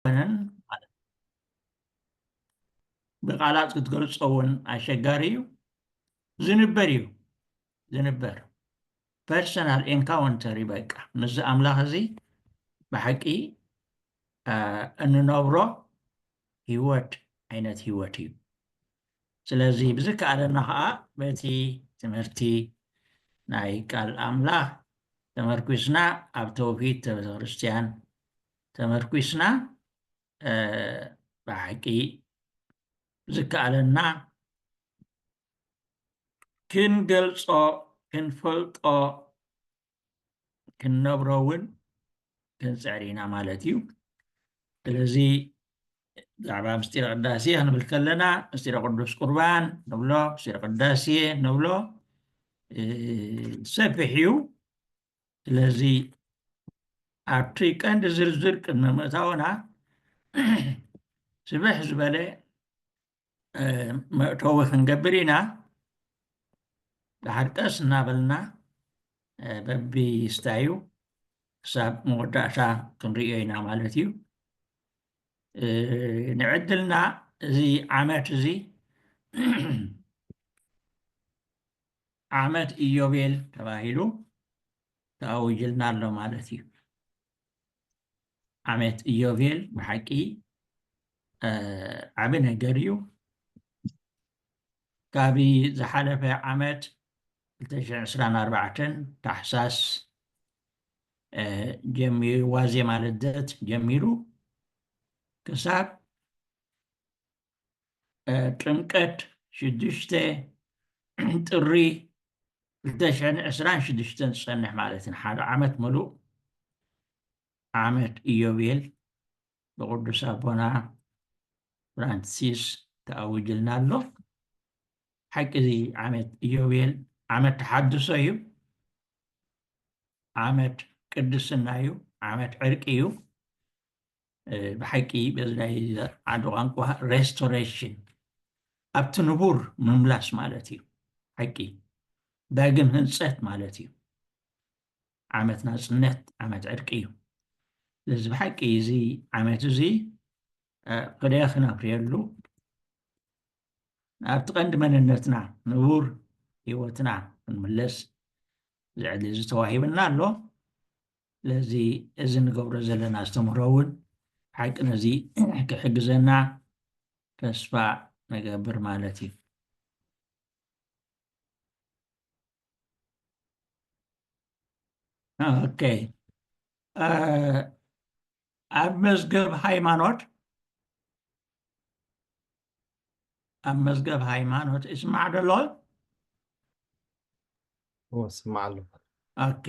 ኣይኮነን ማለት ብቃላት ክትገልጾ እውን ኣሸጋሪ እዩ ዝንበር እዩ ዝንበር ፐርሰናል ኤንካውንተር እዩ በቃ ምስዚ ኣምላኽ እዚ ብሓቂ እንነብሮ ህይወት ዓይነት ህይወት እዩ ስለዚ ብዝከኣለና ከዓ በቲ ትምህርቲ ናይ ቃል ኣምላኽ ተመርኪስና ኣብ ተውሂድ ቤተክርስትያን ተመርኲስና ብሓቂ ዝከኣለና ክንገልፆ ክንፈልጦ ክንነብሮ እውን ክንፅዕር ኢና ማለት እዩ ስለዚ ብዛዕባ ምስጢረ ቅዳሴ ክንብል ከለና ምስጢረ ቅዱስ ቁርባን ንብሎ ምስጢረ ቅዳሴ ንብሎ ሰፊሕ እዩ ስለዚ ኣብቲ ቀንዲ ዝርዝር ቅድሚ ምእታውና ስብሕ ዝበለ መእተዊ ክንገብር ኢና ድሓር ቀስ እናበልና በብስታዩ ክሳብ መወዳእታ ክንሪኦ ኢና ማለት እዩ ንዕድልና እዚ ዓመት እዚ ዓመት ኢዮቤል ተባሂሉ ተኣዊጅልና ኣሎ ማለት እዩ ዓመት ኢዮቤል ብሓቂ ዓቢ ነገር እዩ ካብ ዝሓለፈ ዓመት 224 ታሕሳስ ጀሚሩ ዋዜማ ልደት ጀሚሩ ክሳብ ጥምቀት ሽዱሽተ ጥሪ ክልተ ሽሕን ዕስራን ሽዱሽተን ዝጸንሕ ማለት ንሓደ ዓመት ምሉእ ዓመት ኢዮቤል ብቅዱስ ኣቦና ፍራንሲስ ተኣዊጅልና ኣሎ ሓቂ እዚ ዓመት ኢዮቤል ዓመት ተሓድሶ እዩ ዓመት ቅድስና እዩ ዓመት ዕርቂ እዩ ብሓቂ በዚ ናይ ዓዲ ቋንቋ ሬስቶሬሽን ኣብቲ ንቡር ምምላስ ማለት እዩ ሓቂ ዳግም ህንፀት ማለት እዩ ዓመት ናፅነት ዓመት ዕርቂ እዩ ስለዚ ብሓቂ እዚ ዓመት እዚ ቅደ ክነፍርየሉ ኣብቲ ቀንዲ መንነትና ንቡር ሂወትና ክንምለስ ዝዕሊ እዚ ተዋሂብና ኣሎ ስለዚ እዚ ንገብሮ ዘለና ኣስተምህሮ እውን ሓቂ ነዚ ክሕግዘና ተስፋ ንገብር ማለት እዩ ኦኬ ኣብ መዝገብ ሃይማኖት ኣብ መዝገብ ሃይማኖት እስማዕ ዶ ኣሎ? እዎ ስማዕ ኣሎ። ኦኬ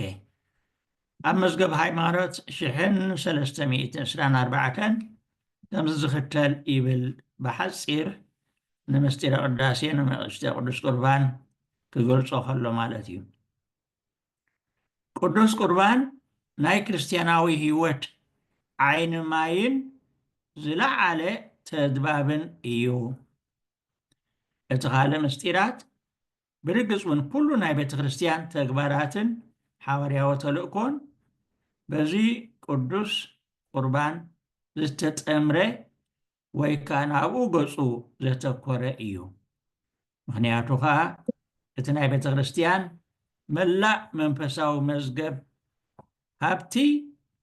ኣብ መዝገብ ሃይማኖት ሽሕን ሰለስተ ሚእትን ዕስራን ኣርባዕተን ከምዚ ዝኽተል ይብል ብሓጺር ንምስጢረ ቅዳሴ ንምዕስተ ቅዱስ ቁርባን ክገልጾ ከሎ ማለት እዩ። ቅዱስ ቁርባን ናይ ክርስትያናዊ ሕይወት ዓይን ማይን ዝለዓለ ተድባብን እዩ። እቲ ካልእ ምስጢራት ብርግጽ ውን ኩሉ ናይ ቤተ ክርስትያን ተግባራትን ሓዋርያዊ ተልእኮን በዚ ቅዱስ ቁርባን ዝተጠምረ ወይ ከኣ ናብኡ ገጹ ዘተኮረ እዩ። ምኽንያቱ ከኣ እቲ ናይ ቤተ ክርስቲያን መላእ መንፈሳዊ መዝገብ ሃብቲ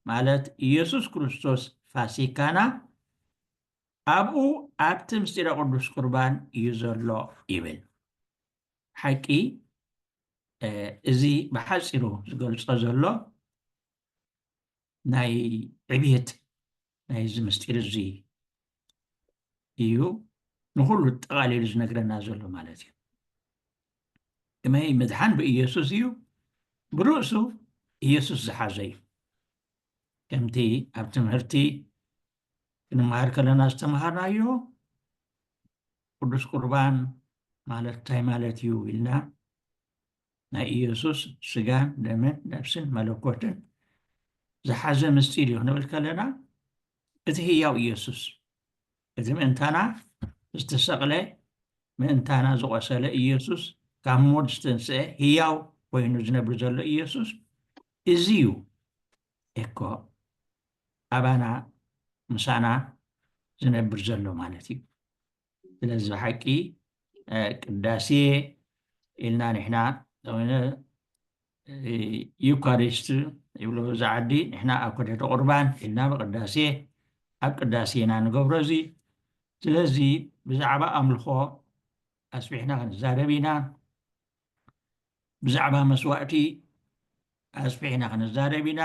ማለት ኢየሱስ ክርስቶስ ፋሲካና ኣብኡ ኣብቲ ምስጢረ ቅዱስ ቁርባን እዩ ዘሎ ይብል። ሓቂ እዚ ብሓጺሩ ዝገልጾ ዘሎ ናይ ዕብየት ናይዚ ምስጢር እዚ እዩ ንኹሉ ጠቓሊሉ ዝነግረና ዘሎ ማለት እዩ ከመይ ምድሓን ብኢየሱስ እዩ ብርእሱ ኢየሱስ ዝሓዘ እዩ ከምቲ ኣብ ትምህርቲ ክንመሃር ከለና ዝተምሃርናዮ ቅዱስ ቁርባን ማለት እንታይ ማለት እዩ ኢልና ናይ ኢየሱስ ስጋን ደምን ነፍስን መለኮትን ዝሓዘ ምስጢር እዩ ክንብል ከለና እቲ ህያው ኢየሱስ እቲ ምእንታና ዝተሰቕለ ምእንታና ዝቖሰለ ኢየሱስ ካብ ሞት ዝተንስአ ህያው ኮይኑ ዝነብር ዘሎ ኢየሱስ እዚ እዩ እኮ ኣባና ምሳና ዝነብር ዘሎ ማለት እዩ ስለዚ ብሓቂ ቅዳሴ ኢልና ንሕና ዩካሪስት ይብሎ እዚ ዓዲ ንሕና ኣብ ኮደተ ቁርባን ኢልና ብቅዳሴ ኣብ ቅዳሴ ኢና ንገብሮ እዚ ስለዚ ብዛዕባ ኣምልኾ ኣስቢሕና ክንዛረብ ኢና ብዛዕባ መስዋእቲ ኣስፊሕና ክንዛረብ ኢና፣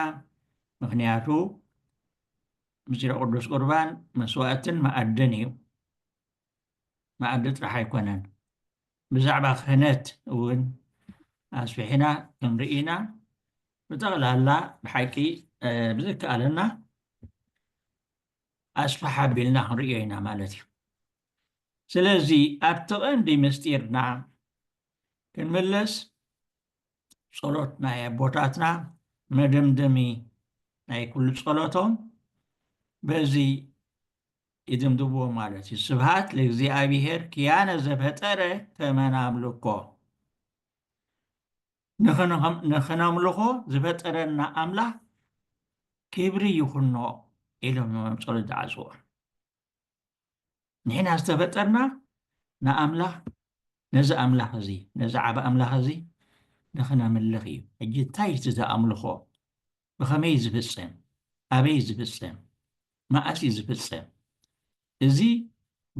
ምኽንያቱ ምስጢረ ቅዱስ ቁርባን መስዋእትን መኣድን እዩ፣ መኣዲ ጥራሕ ኣይኮነን። ብዛዕባ ክህነት እውን ኣስፊሕና ክንርኢ ኢና። ብጠቕላላ ብሓቂ ብዝከኣለና ኣስፋሕ ኣቢልና ክንርእዮ ኢና ማለት እዩ። ስለዚ ኣብቲ ቀንዲ ምስጢርና ክንምለስ ጸሎት ናይ ኣቦታትና መደምደሚ ናይ ኩሉ ጸሎቶም በዚ ይድምድምዎ ማለት እዩ ስብሃት ለእግዚኣብሄር ክያነ ዘፈጠረ ከመ ናምልኮ ንክነምልኾ ዝፈጠረና ኣምላኽ ክብሪ ይኹኖ ኢሎም እዮም ጸሎት ዝዓጽዎ ንሕና ዝተፈጠርና ንኣምላኽ ነዚ ኣምላኽ እዚ ነዚ ዓብ ኣምላኽ እዚ ንኽነምልኽ እዩ ሕጂ እንታይ እቲ ዝኣምልኾ ብኸመይ ዝፍፀም ኣበይ ዝፍፀም መኣስ እዩ ዝፍፀም እዚ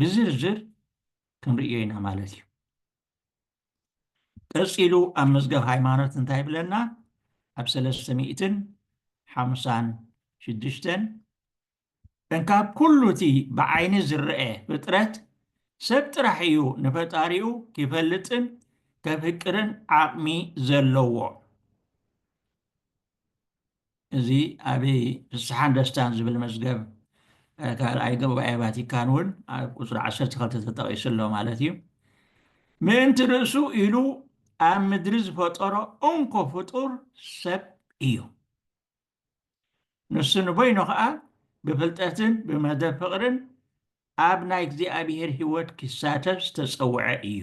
ብዝርዝር ክንርእዮ ኢና ማለት እዩ ቀፂሉ ኣብ መዝገብ ሃይማኖት እንታይ ይብለና ኣብ ሰለስተ ሚእትን ሓምሳን ሽዱሽተን እንካብ ኩሉ እቲ ብዓይኒ ዝረኤ ፍጥረት ሰብ ጥራሕ እዩ ንፈጣሪኡ ኪፈልጥን ከፍቅርን ዓቕሚ ዘለዎ። እዚ ኣብ ፍስሓን ደስታን ዝብል መዝገብ ካልኣይ ጉባኤ ቫቲካን እውን ኣብ ቁፅሪ 12 ተጠቒሱ ኣሎ ማለት እዩ። ምእንቲ ርእሱ ኢሉ ኣብ ምድሪ ዝፈጠሮ እንኮ ፍጡር ሰብ እዩ። ንሱ ንበይኑ ኸኣ ብፍልጠትን ብመደብ ፍቕርን ኣብ ናይ እግዚኣብሔር ሕይወት ኪሳተፍ ዝተጸውዐ እዩ።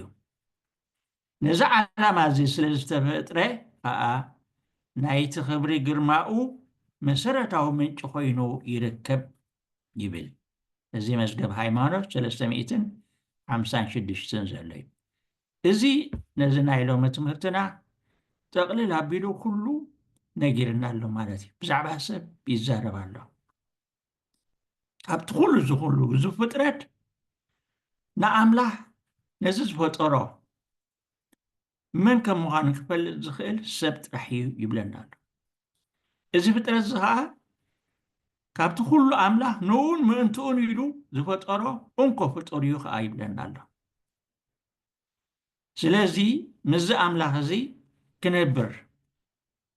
ነዚ ዓላማ እዚ ስለ ዝተፈጥረ ኸኣ ናይቲ ኽብሪ ግርማኡ መሠረታዊ ምንጪ ኮይኑ ይርከብ ይብል። እዚ መዝገብ ሃይማኖት ሰለስተ ሚእትን ሓምሳን ሽዱሽተን ዘሎ እዩ። እዚ ነዚ ናይ ሎሚ ትምህርትና ጠቕልል ኣቢሉ ኩሉ ነጊርና ኣሎ ማለት እዩ ብዛዕባ ሰብ ይዛረብ ኣሎ ካብቲ ኩሉ ዝኩሉ ግዙፍ ፍጥረት ንኣምላኽ ነዚ ዝፈጠሮ መን ከም ምዃኑ ክፈልጥ ዝኽእል ሰብ ጥራሕ እዩ ይብለና ኣሎ እዚ ፍጥረት እዚ ከዓ ካብቲ ኩሉ ኣምላኽ ንኡን ምእንትኡን ኢሉ ዝፈጠሮ እንኮ ፍጡር እዩ ከዓ ይብለና ኣሎ ስለዚ ምስዚ ኣምላኽ እዚ ክነብር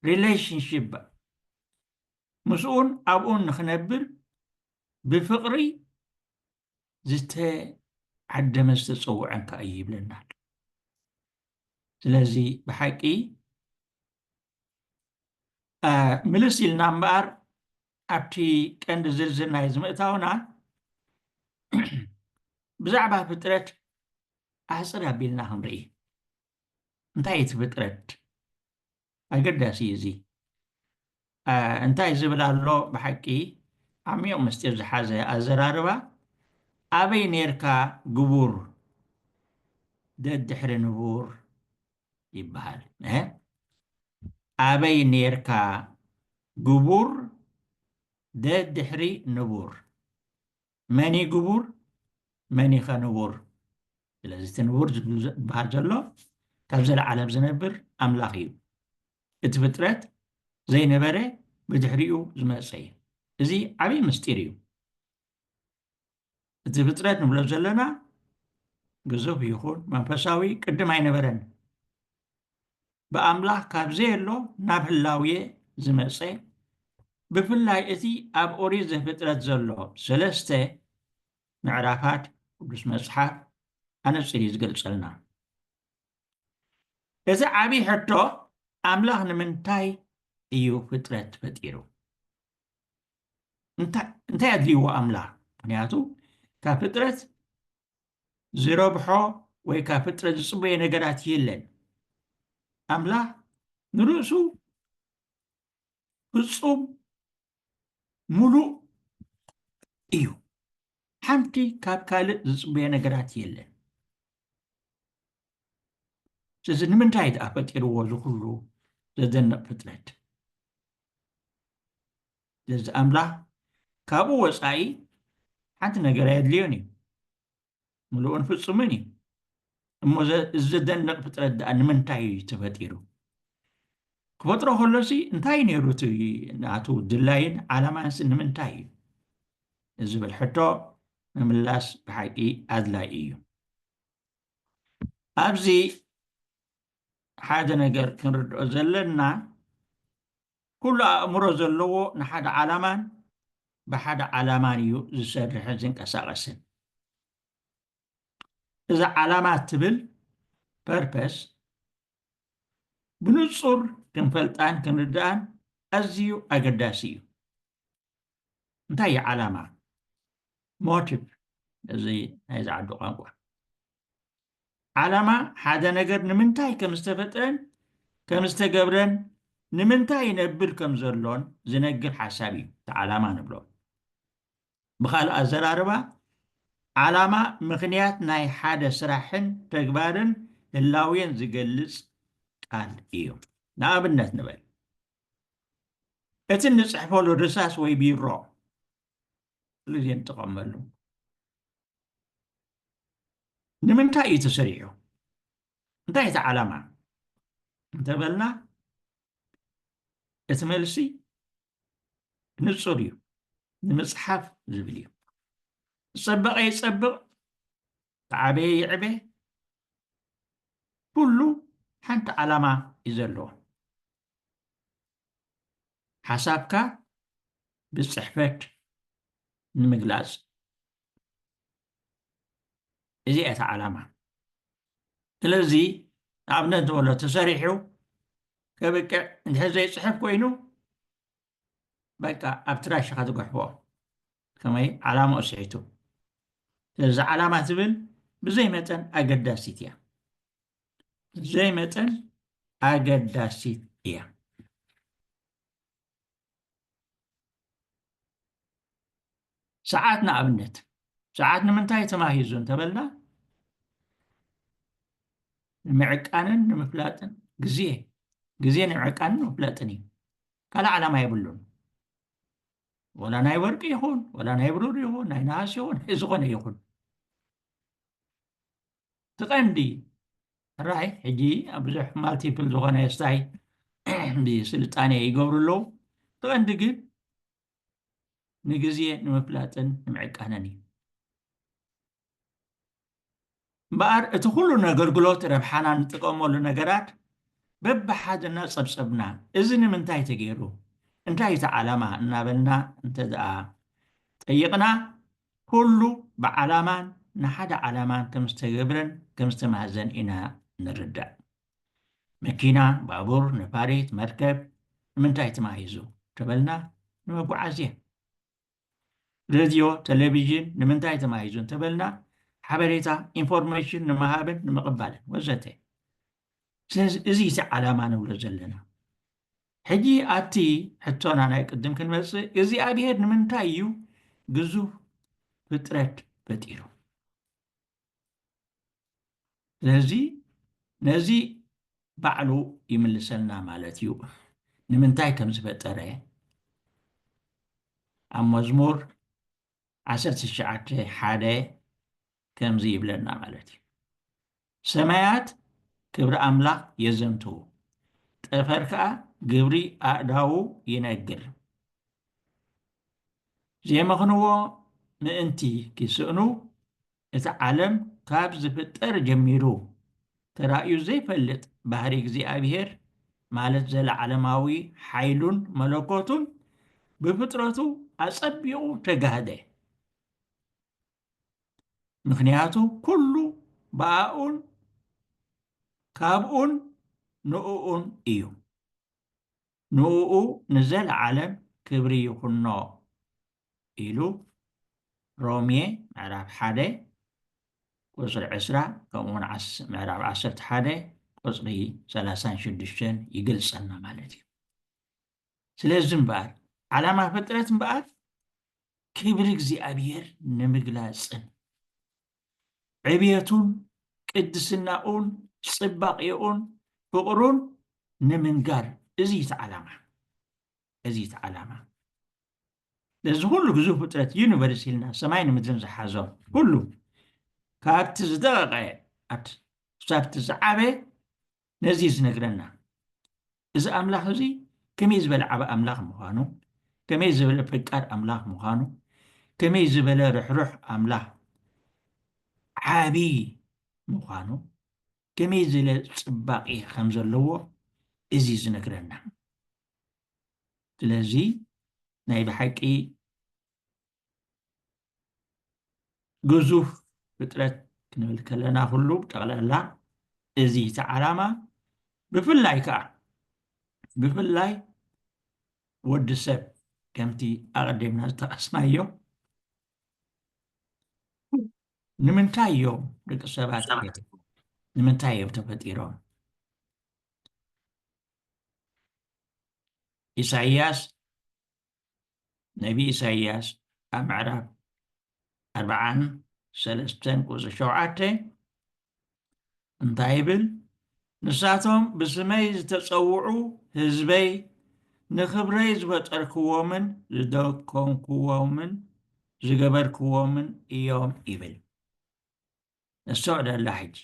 ሪሌሽንሽፕ ምስኡን ኣብኡን ንክነብር ብፍቕሪ ዝተዓደመ ዝተፀውዐን ከዓ እዩ ይብለና ኣሎ ስለዚ ብሓቂ ምልስ ኢልና እምበኣር ኣብቲ ቀንዲ ዝርዝር ናይ ዝምእታውና ብዛዕባ ፍጥረት ኣሕፅር ኣቢልና ክንርኢ እንታይ እቲ ፍጥረት ኣገዳሲ እዩ እዚ እንታይ ዝብል ኣሎ ብሓቂ ዓሚቕ ምስጢር ዝሓዘ ኣዘራርባ ኣበይ ነርካ ግቡር ደድሕሪ ንቡር ይበሃል እህ ኣበይ ኔርካ ግቡር ደድሕሪ ንቡር መን እዩ ግቡር መን እዩ ኸንቡር ስለዚ እቲ ንቡር ዝበሃል ዘሎ ካብ ዘለዓለም ዝነብር ኣምላኽ እዩ እቲ ፍጥረት ዘይነበረ ብድሕሪኡ ዝመፀ እዩ እዚ ዓብዪ ምስጢር እዩ እቲ ፍጥረት ንብሎ ዘለና ግዙፍ ይኹን መንፈሳዊ ቅድም ኣይነበረን ብኣምላኽ ካብ ዘየሎ ናብ ህላውየ ዝመፀ ብፍላይ እቲ ኣብ ኦሪት ዘፍጥረት ዘሎ ሰለስተ ምዕራፋት ቅዱስ መፅሓፍ ኣነፅር እዩ ዝገልፀልና እዚ ዓብዪ ሕቶ ኣምላኽ ንምንታይ እዩ ፍጥረት ፈጢሩ እንታይ ኣድልይዎ ኣምላኽ ምክንያቱ ካብ ፍጥረት ዝረብሖ ወይ ካብ ፍጥረት ዝፅበዮ ነገራት የለን ኣምላኽ ንርእሱ ፍፁም ሙሉእ እዩ ሓንቲ ካብ ካልእ ዝፅበዮ ነገራት የለን ስለዚ ንምንታይ ድኣ ፈጢርዎ ዝኩሉ ዘደንቕ ፍጥረት ስለዚ ኣምላኽ ካብኡ ወጻኢ ሓንቲ ነገር ኣየድልዮን እዩ። ምሉእን ፍጹምን እዩ። እሞ እዚ ዘደንቕ ፍጥረት ደኣ ንምንታይ እዩ ተፈጢሩ? ክፈጥሮ ከሎሲ እንታይ እዩ ነይሩ እቲ ናቱ ድላይን ዓላማንሲ ንምንታይ እዩ ንዝብል ሕቶ ምምላስ ብሓቂ ኣድላይ እዩ። ኣብዚ ሓደ ነገር ክንርድኦ ዘለና ኩሉ ኣእምሮ ዘለዎ ንሓደ ዓላማን ብሓደ ዓላማን እዩ ዝሰርሕን ዝንቀሳቐስን እዚ ዓላማ ትብል ፐርፐስ ብንጹር ክንፈልጣን ክንርዳእን ኣዝዩ ኣገዳሲ እዩ እንታይ እዩ ዓላማ ሞቲቭ እዚ ናይ ዝዓዱ ቋንቋ ዓላማ ሓደ ነገር ንምንታይ ከም ዝተፈጥረን ከም ዝተገብረን ንምንታይ ይነብር ከም ዘሎን ዝነግር ሓሳብ እዩ እቲ ዓላማ ንብሎ ብካልእ ኣዘራርባ ዓላማ ምክንያት ናይ ሓደ ስራሕን ተግባርን ህላዌን ዝገልጽ ቃል እዩ ንኣብነት ንበል እቲ እንጽሕፈሉ ርሳስ ወይ ቢሮ ኩሉ ግዜ ንጥቀመሉ ንምንታይ እዩ ተሰሪሑ እንታይ እቲ ዓላማ እንተበልና እቲ መልሲ ንፁር እዩ ንምፅሓፍ ዝብል እዩ ዝፀበቐ ይፀብቕ ተዓበየ ይዕበ ኩሉ ሓንቲ ዓላማ እዩ ዘለዎ ሓሳብካ ብጽሕፈት ንምግላጽ እዚኣ እታ ዓላማ ስለዚ ንኣብነት ዝበሎ ተሰሪሑ ከብቅዕ እንድሕር ዘይፅሕፍ ኮይኑ በቃ ኣብ ትራሽኻ ዝገሕቦ ከመይ ዓላማኡ ስሒቱ ስለዚ ዓላማ ትብል ብዘይ መጠን ኣገዳሲት እያ ብዘይ መጠን ኣገዳሲት እያ ሰዓት ንኣብነት ሰዓት ንምንታይ ተማሂዙ እንተበልና ንምዕቃንን ንምፍላጥን ግዜ ግዜ ንምዕቃንን ንምፍላጥን እዩ ካልእ ዓላማ የብሉን ወላ ናይ ወርቂ ይኹን ወላ ናይ ብሩር ይኹን ናይ ነሃስ ይኹን ናይ ዝኾነ ይኹን እቲ ቀንዲ ራይ ሕጂ ኣብ ብዙሕ ማልቲፕል ዝኾነ ስታይ ስልጣነ ይገብሩ ኣለዉ እቲ ቀንዲ ግን ንግዜ ንምፍላጥን ንምዕቃንን እዩ እምበኣር እቲ ኩሉ ነገልግሎት ረብሓና ንጥቀመሉ ነገራት በብሓደ እናጸብጸብና እዚ ንምንታይ ተገይሩ፣ እንታይ እቲ ዓላማ እናበልና እንተድኣ ጠይቕና ኩሉ ብዓላማን ንሓደ ዓላማን ከም ዝተገብረን ከም ዝተማህዘን ኢና ንርዳእ። መኪና፣ ባቡር፣ ነፋሪት፣ መርከብ ንምንታይ ተማሂዙ ተበልና ንመጓዓዝያ። ሬድዮ፣ ተሌቪዥን ንምንታይ ተማሂዙ እንተበልና ሓበሬታ፣ ኢንፎርሜሽን፣ ንምሃብን ንምቕባልን ወዘተ። ስለዚ እዚ እቲ ዓላማ ንብሎ ዘለና። ሕጂ ኣቲ ሕቶና ናይ ቅድም ክንመጽእ፣ እግዚኣብሄር ንምንታይ እዩ ግዙፍ ፍጥረት ፈጢሩ? ስለዚ ነዚ ባዕሉ ይምልሰልና ማለት እዩ ንምንታይ ከም ዝፈጠረ ኣብ መዝሙር ዓሰርተ ትሽዓተ ሓደ ከምዚ ይብለና ማለት እዩ ሰማያት ክብሪ ኣምላኽ የዘንትዉ ጠፈር ከዓ ግብሪ ኣእዳዉ ይነግር ዜመኽንዎ ምእንቲ ኪስእኑ፣ እቲ ዓለም ካብ ዚፍጠር ጀሚሩ ተራእዩ ዘይፈልጥ ባህርይ እግዚኣብሄር፣ ማለት ዘለዓለማዊ ሓይሉን መለኮቱን፣ ብፍጥረቱ ኣጸቢቑ ተጋህደ። ምኽንያቱ ኩሉ ብኣኡን ካብኡን ንእኡን እዩ። ንእኡ ንዘለዓለም ክብሪ ይኹኖ ኢሉ ሮሜ ምዕራፍ ሓደ ቁጽሪ ዕስራ ከምኡውን ምዕራፍ ዓሰርተ ሓደ ቁጽሪ ሰላሳን ሽዱሽተን ይገልጸልና ማለት እዩ ስለዚ እምበኣር ዓላማ ፍጥረት እምበኣር ክብሪ እግዚኣብሔር ንምግላጽን ዕብየቱን ቅድስናኡን ጽባቄኡን ፍቕሩን ንምንጋር እዚ እዩ እቲ ዓላማ እዚ እዩ እቲ ዓላማ ነዚ ኩሉ ግዙፍ ፍጥረት ዩኒቨርስ ኢልና ሰማይን ምድርን ዝሓዞ ኩሉ ካብቲ ዝደቐቐ ክሳብቲ ዝዓበ ነዚ እዩ ዝነግረና እዚ ኣምላኽ እዚ ከመይ ዝበለ ዓብ ኣምላኽ ምዃኑ ከመይ ዝበለ ፈቃድ ኣምላኽ ምዃኑ ከመይ ዝበለ ርሕሩሕ ኣምላኽ ዓብይ ምዃኑ ከመይ ዝለ ፅባቂ ከም ዘለዎ እዚ ዝነግረና ስለዚ ናይ ብሓቂ ግዙፍ ፍጥረት ክንብል ከለና ኩሉ ጠቕላላ እዚ እቲ ዓላማ ብፍላይ ከዓ ብፍላይ ወዲ ሰብ ከምቲ ኣቐዲምና ዝጠቐስናዮ ንምንታይ እዮም ደቂ ሰባት ንምንታይ እዮም ተፈጢሮም ኢሳይያስ ነቢ ኢሳይያስ ኣብ ምዕራፍ ኣርብዓን ሰለስተን ቁፅሪ ሸውዓተ እንታይ ይብል? ንሳቶም ብስመይ ዝተፀውዑ ህዝበይ ንኽብረይ ዝፈጠርክዎምን ዝደኮንክዎምን ዝገበርክዎምን እዮም ይብል። ነስተውዕለላ ሕጂ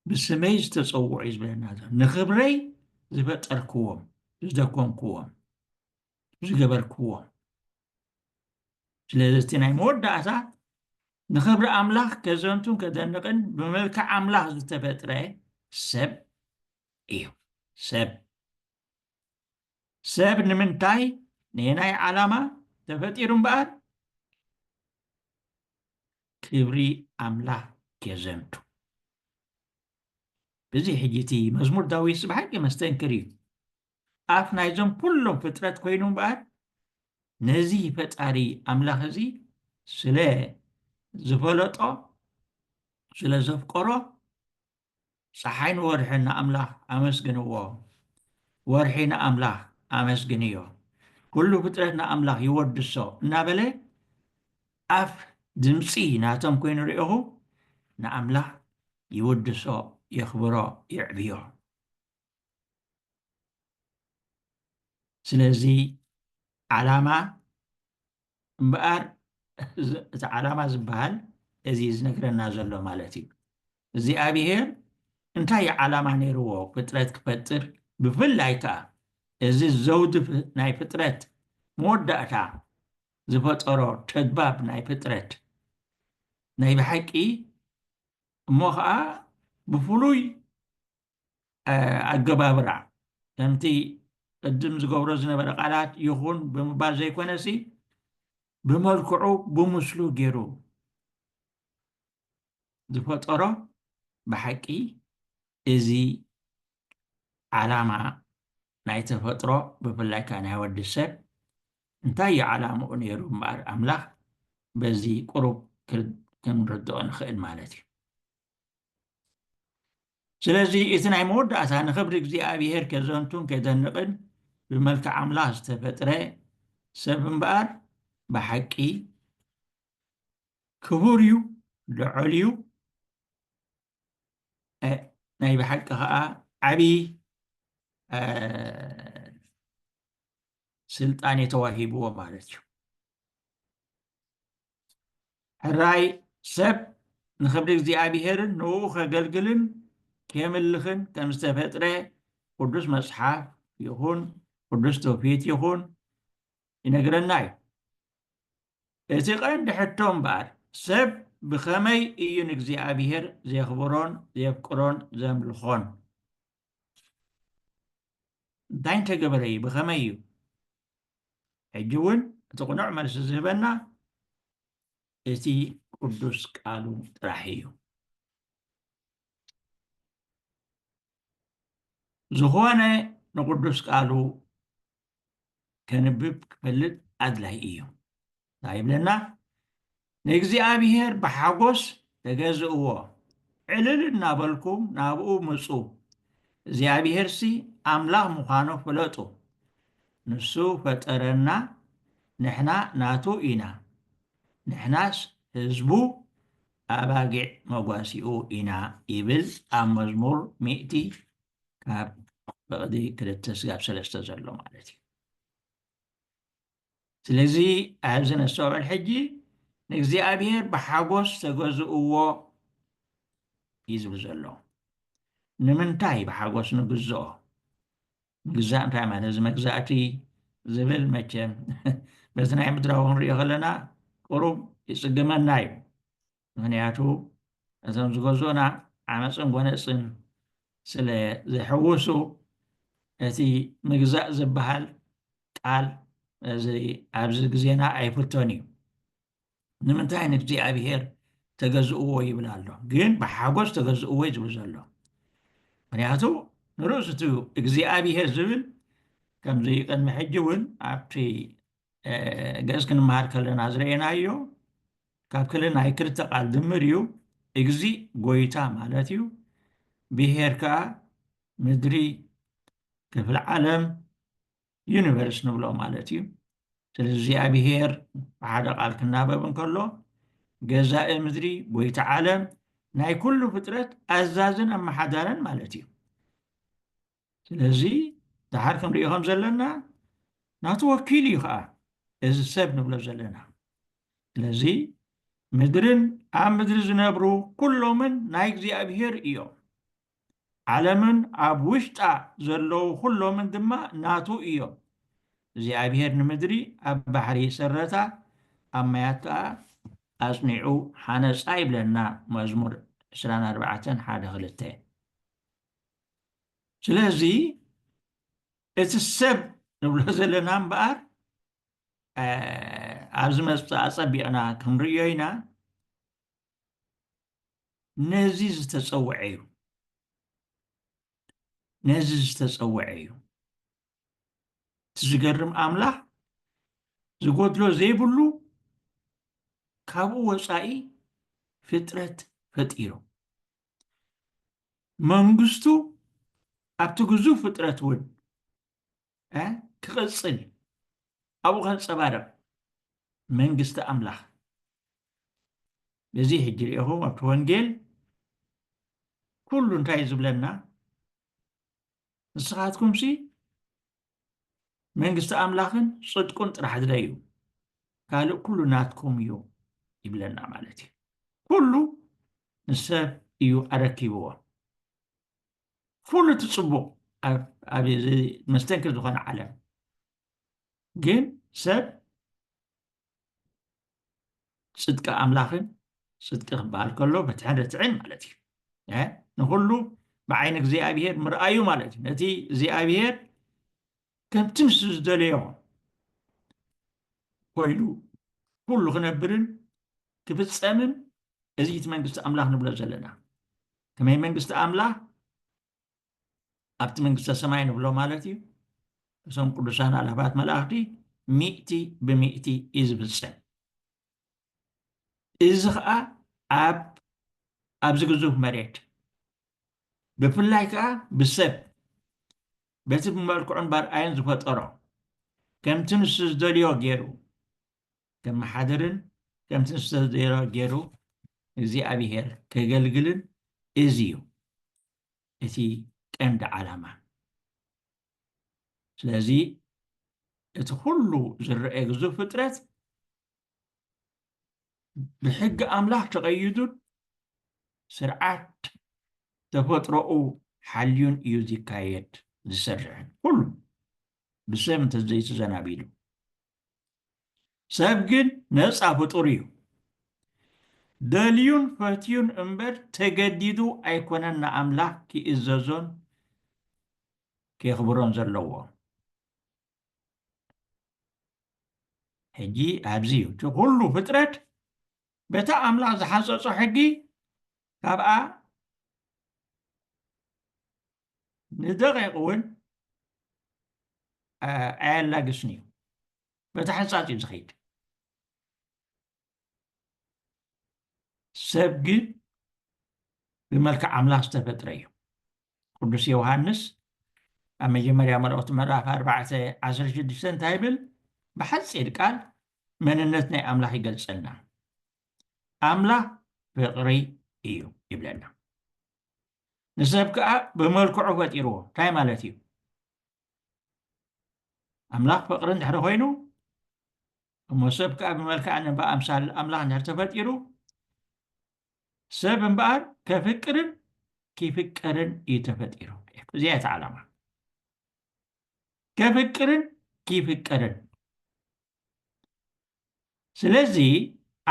ብስመይ ዝተፀውዑ እዩ ዝበለና ዘሎ ንክብረይ ዝፈጠርክዎም ዝደኮንክዎም ዝገበርክዎም ስለዚ እቲ ናይ መወዳእታ ንክብሪ ኣምላኽ ከዘንቱን ከደንቕን ብመልክዕ ኣምላኽ ዝተፈጥረ ሰብ እዩ ሰብ ሰብ ንምንታይ ነየናይ ዓላማ ተፈጢሩ እምበኣር ክብሪ ኣምላኽ ኬዘንቱ እዚ ሕጂ እቲ መዝሙር ዳዊት ብሓቂ መስተንክር እዩ ኣፍ ናይዞም ኩሎም ፍጥረት ኮይኑ እምበኣር ነዚ ፈጣሪ ኣምላኽ እዚ ስለ ዝፈለጦ ስለ ዘፍቀሮ ጸሓይን ወርሕን ንኣምላኽ ኣመስግንዎ። ወርሒ ንኣምላኽ ኣመስግንዮ። ኩሉ ፍጥረት ንኣምላኽ ይወድሶ እናበለ ኣፍ ድምጺ ናቶም ኮይኑ ርኢኹ ንኣምላኽ ይውድሶ፣ የኽብሮ፣ የዕብዮ። ስለዚ ዓላማ እምበኣር እቲ ዓላማ ዝበሃል እዚ ዝነግረና ዘሎ ማለት እዩ እግዚኣብሄር እንታይ ዓላማ ነይርዎ ፍጥረት ክፈጥር ብፍላይ ከዓ እዚ ዘውዲ ናይ ፍጥረት መወዳእታ ዝፈጠሮ ተግባብ ናይ ፍጥረት ናይ ብሓቂ እሞ ከዓ ብፍሉይ ኣገባብራ ከምቲ ቅድም ዝገብሮ ዝነበረ ቃላት ይኹን ብምባል ዘይኮነሲ ብመልክዑ ብምስሉ ገይሩ ዝፈጠሮ ብሓቂ እዚ ዓላማ ናይ ተፈጥሮ ብፍላይ ከዓ ናይ ወዲ ሰብ እንታይ እዩ ዓላምኡ ነይሩ እምበኣር ኣምላኽ በዚ ቁሩብ ክንርድኦ ንኽእል ማለት እዩ ስለዚ እቲ ናይ መወዳእታ ንኽብሪ እግዚኣብሔር ከዘንቱን ከደንቕን ብመልክዕ ኣምላኽ ዝተፈጥረ ሰብ እምበኣር ብሓቂ ክቡር እዩ ልዑል እዩ ናይ ብሓቂ ከዓ ዓብዪ ስልጣኔ ተዋሂብዎ ማለት እዩ ሕራይ ሰብ ንክብሪ እግዚኣብሔርን ንኡ ከገልግልን ኬምልኽን ከም ዝተፈጥረ ቅዱስ መጽሓፍ ይኹን ቅዱስ ትውፊት ይኹን ይነግረና እዩ እቲ ቀንዲ ሕቶ እምበኣር ሰብ ብኸመይ እዩ ንእግዚኣብሔር ዜኽብሮን ዜፍቅሮን ዘምልኾን እንታይ እንተገበረ እዩ ብኸመይ እዩ ሕጂ እውን እቲ ቅኑዕ መልሲ ዝህበና እቲ ቅዱስ ቃሉ ጥራሕ እዩ ዝኾነ ንቅዱስ ቃሉ ከንብብ ክፈልጥ ኣድላይ እዩ እንታይ ይብለና ንእግዚኣብሔር ብሓጎስ ተገዝእዎ ዕልል እናበልኩም ናብኡ ምፁ እግዚኣብሔርሲ ኣምላኽ ምዃኑ ፍለጡ ንሱ ፈጠረና ንሕና ናቱ ኢና ንሕናስ ህዝቡ ኣባጊዕ መጓሲኡ ኢና ይብል ኣብ መዝሙር ሚእቲ ካብ በቕዲ ክልተ ስጋብ ሰለስተ ዘሎ ማለት እዩ ስለዚ ኣብዚ ነስተውዕል ሕጂ ንእግዚኣብሔር ብሓጎስ ተገዝእዎ እዩ ዝብል ዘሎ ንምንታይ ብሓጎስ ንግዝኦ ምግዛእ እንታይ ማለት እዚ መግዛእቲ ዝብል መቸም በዚ ናይ ምድራዊ ክንሪኦ ከለና ቅሩብ ይፅግመና እዩ ምኽንያቱ እዞም ዝገዙኡና ዓመጽን ጎነጽን ስለ ዘይሕውሱ እቲ ምግዛእ ዝበሃል ቃል እዚ ኣብዚ ግዜና ኣይፍቶን እዩ። ንምንታይ ንእግዚኣብሄር ተገዝእዎ ይብል ኣሎ ግን ብሓጎስ ተገዝእዎ እዩ ዝብል ዘሎ። ምኽንያቱ ንርእሱ እቲ እግዚኣብሄር ዝብል ከምዚ ቅድሚ ሕጂ እውን ኣብቲ ግእዝ ክንመሃር ከለና ዝረኤናዮ ካብ ክል ናይ ክልተ ቃል ድምር እዩ እግዚ ጎይታ ማለት እዩ ብሄር ከዓ ምድሪ ክፍሊ ዓለም ዩኒቨርስ ንብሎ ማለት እዩ ስለዚ እዚኣ ብሄር ብሓደ ቃል ክናበብ እንከሎ ገዛኢ ምድሪ ጎይታ ዓለም ናይ ኩሉ ፍጥረት ኣዛዝን ኣመሓዳርን ማለት እዩ ስለዚ ደሓር ክንሪኦ ከም ዘለና ናቱ ወኪል እዩ ከዓ እዚ ሰብ ንብሎ ዘለና ስለዚ ምድርን ኣብ ምድሪ ዝነብሩ ኩሎምን ናይ እግዚኣብሄር እዮም ዓለምን ኣብ ውሽጣ ዘለዉ ኩሎምን ድማ ናቱ እዮም እግዚኣብሄር ንምድሪ ኣብ ባሕሪ ሰረታ ኣብ ማያት ከዓ ኣፅኒዑ ሓነፃ ይብለና መዝሙር 24 ሓደ ክልተ ስለዚ እቲ ሰብ ንብሎ ዘለና እምበኣር ኣብ ዝመፅእ ኣፀቢቕና ክንርእዮ ኢና ነዚ ዝተፀውዐ እዩ ነዚ ዝተፀውዐ እዩ እቲ ዝገርም ኣምላኽ ዝጎድሎ ዘይብሉ ካብኡ ወፃኢ ፍጥረት ፈጢሩ መንግስቱ ኣብቲ ግዙፍ ፍጥረት እውን ክቕፅል እዩ ኣብኡ ከንፀባርቕ መንግስቲ ኣምላኽ ነዚ ሕጂ ሪኢኹም ኣብቲ ወንጌል ኩሉ እንታይ ዝብለና ንስኻትኩምሲ መንግስቲ ኣምላኽን ጽድቁን ጥራሕ ድለዩ ካልእ ኩሉ ናትኩም እዩ ይብለና ማለት እዩ ኩሉ ንሰብ እዩ ኣረኪብዎ ኩሉ እቲ ፅቡቅ ኣብ መስተንክር ዝኾነ ዓለም ግን ሰብ ጽድቂ ኣምላኽን ጽድቂ ክበሃል ከሎ ፍትሕን ርትዕን ማለት እዩ ንኹሉ ብዓይኒ እግዚኣብሄር ምርኣዩ ማለት እዩ ነቲ እግዚኣብሄር ከምቲ ንሱ ዝደለዮ ኮይኑ ኩሉ ክነብርን ክፍፀምን እዚ እቲ መንግስቲ ኣምላኽ ንብሎ ዘለና ከመይ መንግስቲ ኣምላኽ ኣብቲ መንግስተ ሰማይ ንብሎ ማለት እዩ እዞም ቅዱሳን ኣላባት መላእኽቲ ሚእቲ ብሚእቲ እዩ ዝፍፀም እዚ ከዓ ኣብ ኣብዚ ግዙፍ መሬት ብፍላይ ከዓ ብሰብ በቲ ብመልክዑን ባርኣዮን ዝፈጠሮ ከምቲ ንሱ ዝደልዮ ገይሩ ከመሓድርን ከምቲ ንሱ ዝተደሮ ገይሩ እግዚኣብሄር ከገልግልን እዚ እዩ እቲ ቀንዲ ዓላማ ስለዚ እቲ ኩሉ ዝረአየ ግዙፍ ፍጥረት ብሕጊ ኣምላኽ ተቐይዱን ስርዓት ተፈጥሮኡ ሓልዩን እዩ ዝካየድ ዝሰርሕን ኩሉ ብሰብ እንተዘይተዘናቢሉ ሰብ ግን ነጻ ፍጡር እዩ። ደልዩን ፈትዩን እምበር ተገዲዱ ኣይኮነን ንኣምላኽ ኪእዘዞን ኬኽብሮን ዘለዎ። ሕጂ ኣብዚ እዩ እቲ ዅሉ ፍጥረት በታ ኣምላኽ ዝሓጸጾ ሕጊ ካብኣ ንደቂቕ እውን ኣየላግስን እዩ በቲ ሕንፃፅ እዩ ዝኸይድ ሰብ ግን ብመልክዕ ኣምላኽ ዝተፈጥረ እዩ ቅዱስ ዮሃንስ ኣብ መጀመርያ መልእኽቲ ምዕራፍ 416 እንታይ ይብል ብሓፂር ቃል መንነት ናይ ኣምላኽ ይገልፀልና ኣምላኽ ፍቕሪ እዩ ይብለና ንሰብ ከኣ ብመልክዑ ፈጢርዎ እንታይ ማለት እዩ ኣምላኽ ፍቕሪ እንድሕሪ ኮይኑ እሞ ሰብ ከኣ ብመልክዕን ብኣምሳል ኣምላኽ እንድሕር ተፈጢሩ ሰብ እምበኣር ከፍቅርን ክፍቀርን እዩ ተፈጢሩ እዚኣ እቲ ዓላማ ከፍቅርን ክፍቀርን ስለዚ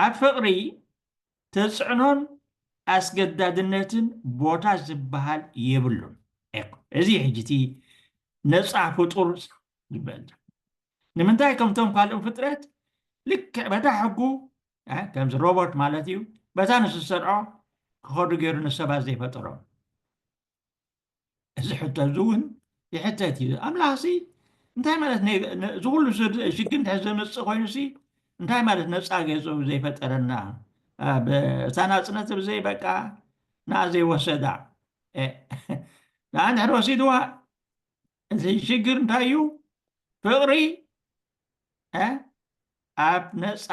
ኣብ ፍቕሪ ተጽዕኖን ኣስገዳድነትን ቦታ ዝበሃል የብሉን። እዚ እዩ ሕጂ እቲ ነጻ ፍጡር ዝበል ዘሎ። ንምንታይ ከምቶም ካልኦም ፍጥረት ልክዕ በታ ሕጉ ከምዚ ሮቦት ማለት እዩ በታ ንሱ ዝሰርዖ ክኸዱ ገይሩ ንሰባት ዘይፈጠሮም እዚ ሕቶ እዚ እውን ይሕተት እዩ ኣምላኽ ሲ እንታይ ማለት እዚ ኩሉ ሽግር እንተ ዘመፅእ ኮይኑ ሲ እንታይ ማለት ነፃ ገፁ ዘይፈጠረና እታ ናፅነት ብዘይ በቃ ንኣ ዘይወሰዳ ንኣ ንድሕር ወሲድዋ እዚ ሽግር እንታይ እዩ ፍቕሪ ኣብ ነፃ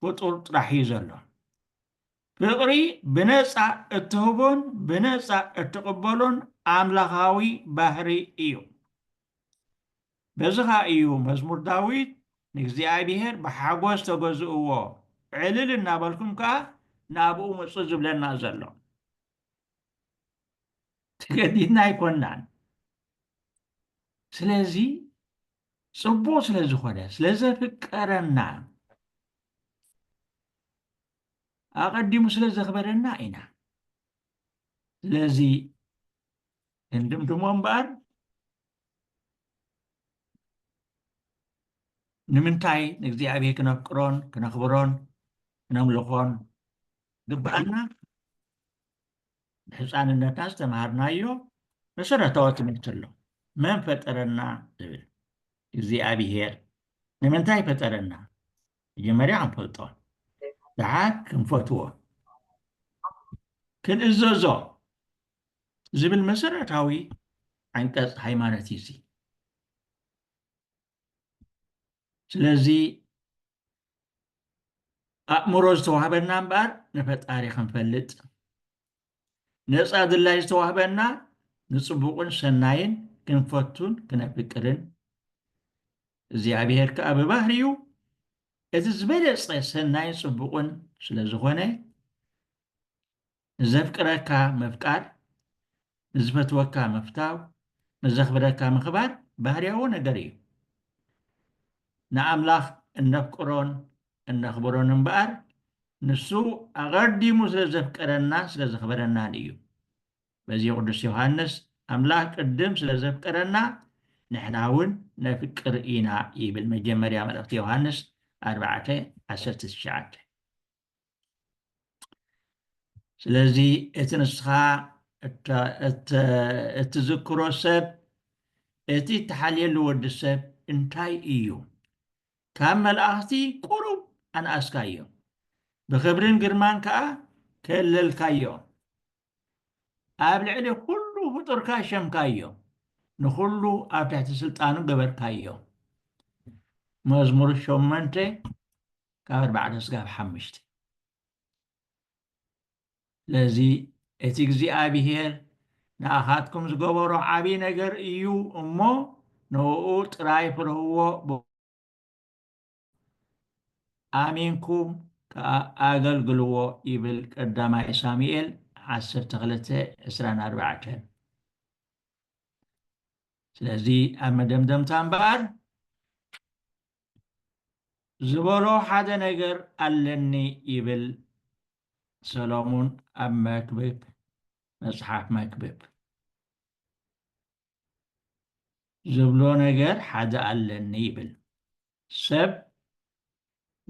ፍጡር ጥራሕ እዩ ዘሎ ፍቕሪ ብነጻ እትህቦን ብነጻ እትቕበሎን ኣምላኻዊ ባህሪ እዩ። በዚ ኸኣ እዩ መዝሙር ዳዊት ንእግዚኣብሄር ብሓጐስ ተገዝእዎ፣ ዕልል እናበልኩም ከኣ ናብኡ ምጹ ዝብለና ዘሎ። ተገዲድና ኣይኮናን። ስለዚ ጽቡቕ ስለ ዝኾነ ስለ ዘፍቀረና ኣቐዲሙ ስለ ዘኽበረና ኢና ስለዚ ክንድምድሞ እምበኣር ንምንታይ ንእግዚኣብሔር ክነፍቅሮን ክነኽብሮን ክነምልኾን ግብኣና ብሕፃንነትና ዝተምሃርናዮ መሰረታዊ ትምህርቲ ኣሎ መን ፈጠረና ዝብል እግዚኣብሔር ንምንታይ ፈጠረና መጀመርያ ክንፈልጦ ደሓር ክንፈትዎ ክንእዘዞ ዝብል መሰረታዊ ዓንቀፅ ሃይማኖት እዩ እዚ ስለዚ ኣእምሮ ዝተዋህበና እምበኣር ንፈጣሪ ክንፈልጥ ነፃ ድላይ ዝተዋህበና ንፅቡቕን ሰናይን ክንፈቱን ክነፍቅርን እግዚኣብሔር ከዓ ብባህሪኡ እቲ ዝበለፀ ሰናይን ፅቡቕን ስለ ዝኾነ ንዘፍቅረካ ምፍቃር ንዝፈትወካ ምፍታው ንዘኽብረካ ምኽባር ባህርያዊ ነገር እዩ ንኣምላኽ እነፍቅሮን እነኽብሮን እምበኣር ንሱ ኣቐዲሙ ስለ ዘፍቀረናን ስለ ዘኽበረናን እዩ። በዚ ቅዱስ ዮሃንስ ኣምላኽ ቅድም ስለ ዘፍቀረና ንሕና እውን ነፍቅር ኢና ይብል መጀመርያ መልእኽቲ ዮሃንስ 4:19 ስለዚ እቲ ንስኻ እትዝክሮ ሰብ እቲ እትሓልየሉ ወዲ ሰብ እንታይ እዩ ካብ መልኣኽቲ ቁሩብ ኣንኣስካዮ፣ ብኽብርን ግርማን ከኣ ከለልካዮ። ኣብ ልዕሊ ኹሉ ፍጡርካ ሸምካዮ፣ ንኹሉ ኣብ ትሕቲ ስልጣኑ ገበርካዮ። መዝሙር ሸሞንተ ካብ ኣርባዕተ ስጋብ ሓምሽተ። ስለዚ እቲ እግዚኣብሄር ንኣኻትኩም ዝገበሮ ዓብዪ ነገር እዩ እሞ ንእኡ ጥራይ ፍረውዎ፣ ብእኡ ኣሚንኩም ከኣ ኣገልግልዎ ይብል ቀዳማይ ሳሙኤል ዓሰርተ ክልተ ዕስራን ኣርባዕተን። ስለዚ ኣብ መደምደምታ እምበኣር ዝበሎ ሓደ ነገር ኣለኒ ይብል ሰሎሙን ኣብ መክብብ መጽሓፍ መክብብ ዝብሎ ነገር ሓደ ኣለኒ ይብል ሰብ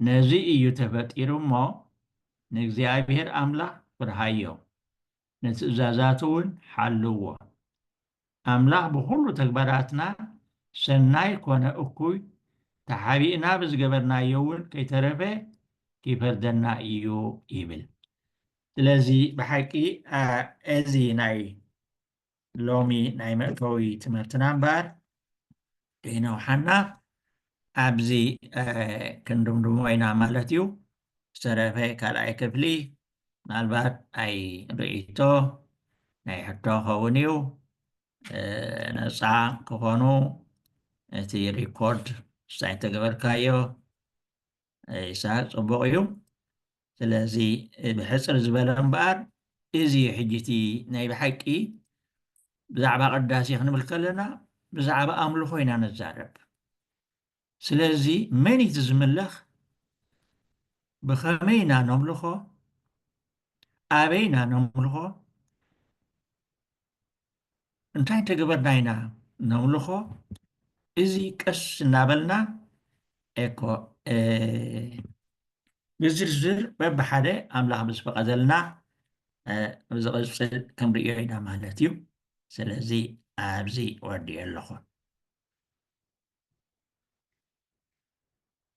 ነዚ እዩ ተፈጢሩ እሞ ንእግዚኣብሔር ኣምላኽ ፍርሃዮ ንትእዛዛቱ ውን ሓልዎ። ኣምላኽ ብኹሉ ተግባራትና ሰናይ ኮነ እኩይ ተሓቢእና ብዝገበርናዮ ውን ከይተረፈ ኪፈርደና ኢዩ ይብል። ስለዚ ብሓቂ እዚ ናይ ሎሚ ናይ መእተዊ ትምህርትና እምበኣር ከይነውሓና ኣብዚ ክንድምድሞ ኢና ማለት እዩ ዝተረፈ ካልኣይ ክፍሊ ምናልባት ኣይ ርእይቶ ናይ ሕቶ ኸውን እዩ ነፃ ክኾኑ እቲ ሪኮርድ ሳይተገበርካዮ ኢሳቅ ጽቡቅ እዩ ስለዚ ብሕጽር ዝበለ እምበኣር እዚ እዩ ሕጂ እቲ ናይ ብሓቂ ብዛዕባ ቅዳሴ ክንብል ከለና ብዛዕባ ኣምልኾ ኢና ንዛረብ ስለዚ መን እቲ ዝምለኽ ብኸመይ ኢና ነምልኾ ኣበይ ኢና ነምልኾ እንታይ እንተገበርና ኢና ነምልኾ? እዚ ቀስ እናበልና እኮ ብዝርዝር በብሓደ ኣምላኽ ምስ ፈቐደልና ኣብ ዝቕፅል ክንርእዮ ኢና ማለት እዩ። ስለዚ ኣብዚ ወዲኤ ኣለኹ።